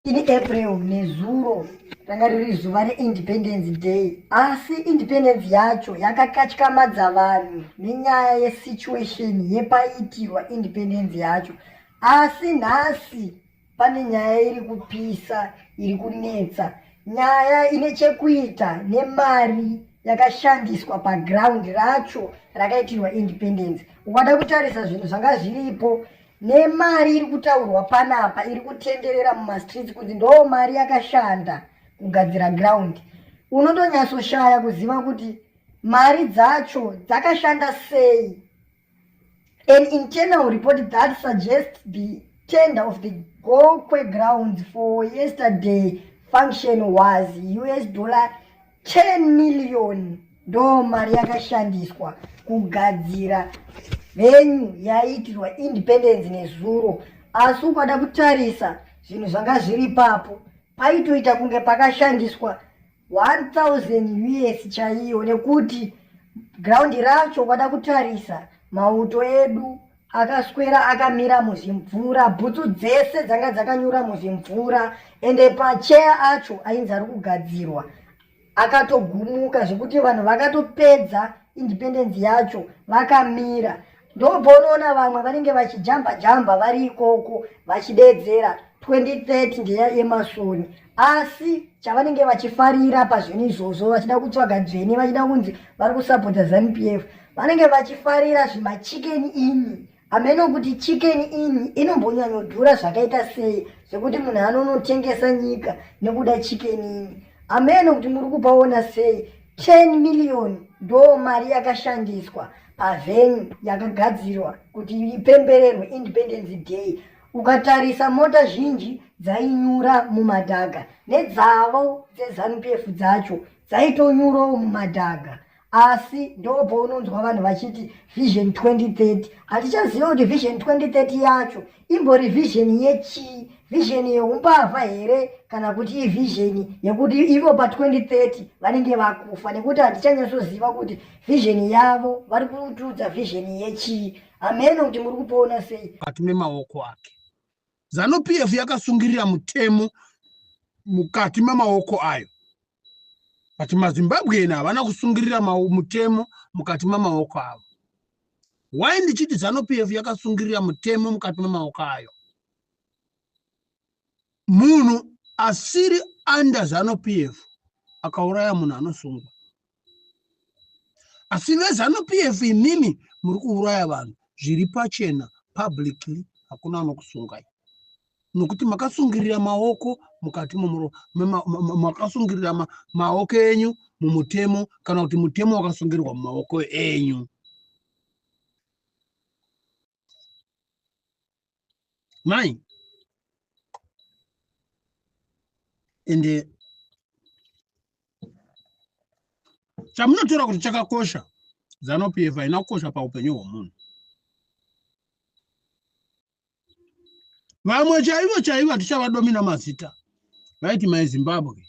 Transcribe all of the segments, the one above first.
ini april nezuro ranga riri zuva reindependence day asi independence yacho yakakatyamadza vanhu nenyaya yesituation yepaitirwa independence yacho asi nhasi pane nyaya iri kupisa iri kunetsa nyaya ine chekuita nemari yakashandiswa paground racho rakaitirwa independence ukada kutarisa zvinhu zvanga zviripo nemari iri kutaurwa panapa iri kutenderera mumastreets kuti ndoo mari yakashanda kugadzira ground unotonyatsoshaya kuziva kuti mari dzacho dzakashanda sei an internal report that suggests the tender of the gokwe grounds for yesterday function was us dollar 10 million ndo mari yakashandiswa kugadzira venyu yaiitirwa independence nezuro asi ukada kutarisa zvinhu zvanga zviri papo paitoita kunge pakashandiswa 1000 us chaiyo nekuti ground racho ukada kutarisa mauto edu akaswera akamira muzimvura bhutsu dzese dzanga dzakanyura muzimvura ende pacheya acho ainzi ari kugadzirwa akatogumuka zvekuti vanhu vakatopedza independence yacho vakamira ndobva unoona vamwe vanenge vachijamba jamba vari ikoko vachideedzera 2030 ndeya yemasoni asi chavanenge vachifarira pazvinhu izvozvo vachida kutsvaga dzvene vachida kunzi vari kusapota zanu p f vanenge vachifarira zvimachikeni ini ameno kuti chikeni ini inombonyanyodhura zvakaita sei zvekuti munhu anonotengesa nyika nekuda chikeni ini ameno kuti muri kupaona sei 10 miriyoni ndo mari yakashandiswa pavhenyu yakagadzirwa kuti ipembererwe independence day Ukatarisa mota zhinji dzainyura mumadhaga nedzavo dzeZanupf dzacho dzaitonyurawo mumadhaga asi ndopounonzwa vanhu vachiti vision 2030 hatichaziva kuti vision 2030 yacho imbori vision yechii vision yeumbavha here kana kuti ivision yekuti ivo pa2030 vanenge vakufa nekuti hatichanyatsoziva kuti vision yavo vari kutiudza vision yechii hameno kuti muri kupona sei kati memaoko ake zanu p f yakasungirira mutemo mukati memaoko ayo but mazimbabwean havana kusungirira mutemo mukati memaoko avo why ndichiti zanu p f yakasungirira mutemo mukati memaoko ayo munhu asiri under zanu pf akauraya munhu anosungwa asi vezanu pf imimi muri kuuraya vanhu zviri pachena publicly hakuna anokusungai nokuti makasungirira maoko mukati makasungirira maoko enyu mumutemo kana kuti mutemo wakasungirirwa mumaoko enyu mai ende chamunotora kuti chakakosha zanupf haina kukosha paupenyu hwomunhu vamwe chaivo chaivo hatichavadomina mazita vaiti my zimbabwe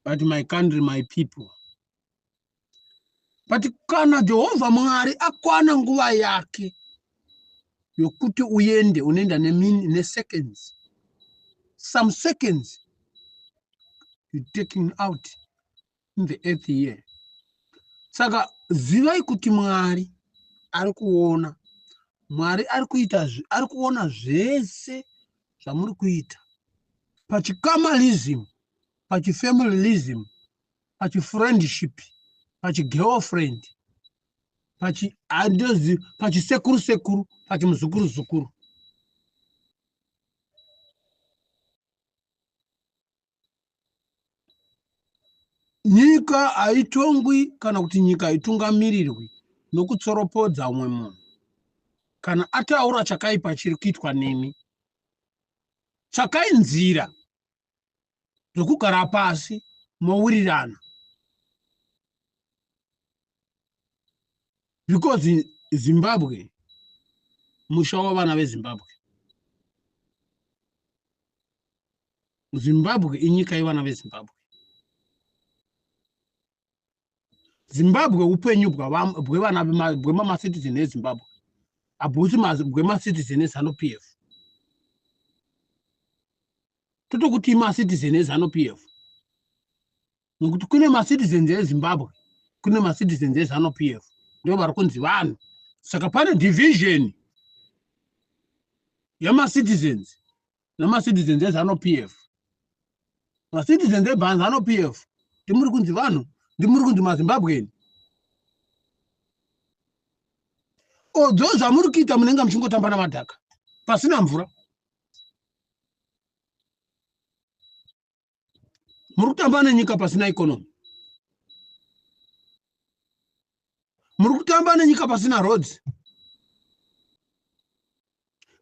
but my country my people but kana jehovha mwari akwana nguva yake yokuti uende unoenda neseconds some seconds you taking out in the earth here saka zivai kuti mwari ari kuona mwari ari kuita ari kuona zvese zvamuri kuita pachikamarism pachifamilirism pachifriendship pachigirlfriend pachiandozi pachisekuru sekuru pachimuzukuru zukuru nyika haitongwi kana kuti nyika haitungamirirwi nokutsoropodza umwe munhu kana ataura chakaipa chiri kuitwa nemi tsvakai nzira zvekugara pasi mowirirana because zimbabwe musha wavana vezimbabwe zimbabwe inyika yevana vezimbabwe zimbabwe upenyu bwevana bwemamacitizen ezimbabwe habusi bwemacitizen ezanup f totokuti imacitizen ezanup f nokuti kune macitizens ezimbabwe kune macitizens ezanup f ndo vari kunzi vanhu saka pane division yamacitizens nemacitizens ezanu p f macitizens ebhanzanu p f ndimuri kunzi vanhu ndimuri kunzi mazimbabweni odzo zvamuri kuita munenge muchingotamba namadhaka pasina mvura muri kutamba nenyika pasina economy muri kutamba nenyika pasina roads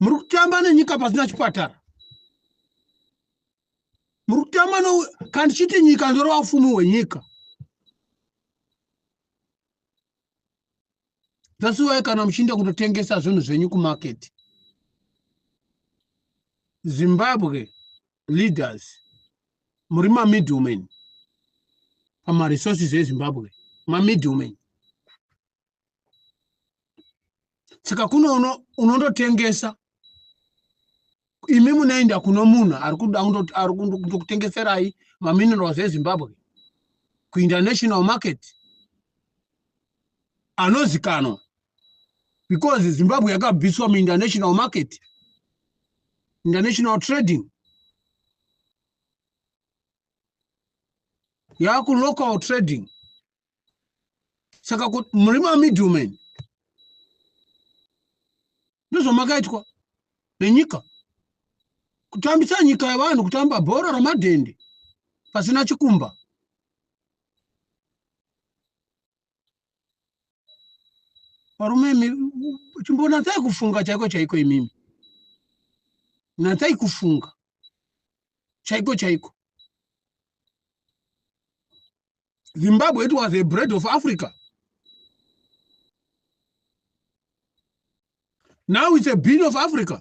muri kutamba nenyika pasina chipatara muri kutamba kandichiti nyika ndorova ufumi hwenyika zasiwai kana muchiinda kutotengesa zvinhu zvenyu kumaketi zimbabwe leaders muri mamiddleman pamaresources ezimbabwe mamiddleman saka kuno unondotengesa imi munoenda kuno munhu ari kuda ari kutokutengeserai maminerals ezimbabwe kuinternational market anozikanwa because zimbabwe yakabviswa muinternational market international trading yaku local trading saka kuti muri mamiddleman ndozvamakaitwa nenyika kutambisa nyika yevanhu kutamba bhora ramadhende pasina chikumba varume imi chimbonatsai kufunga chaiko chaiko imimi natsai kufunga chaiko chaiko zimbabwe it was a bread of africa now it's a bean of africa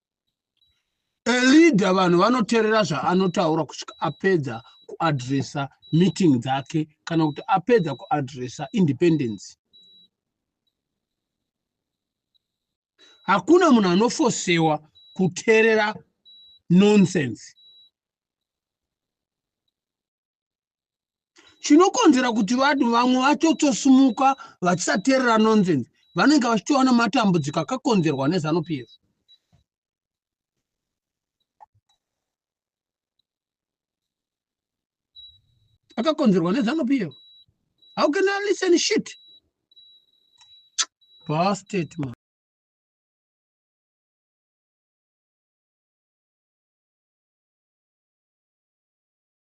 elida vanhu vanoterera zvaanotaura kusvika apedza kuadresa meeting dzake kana kuti apedza kuadresa independence hakuna munhu anofosewa kuterera nonsense chinokonzera kuti vanhu vamwe vatotosimuka vachisateerera nonsense vanenge vachitowana matambudziko akakonzerwa nezanu pf akakonzerwa nezanu pf how can i listen shit bastet man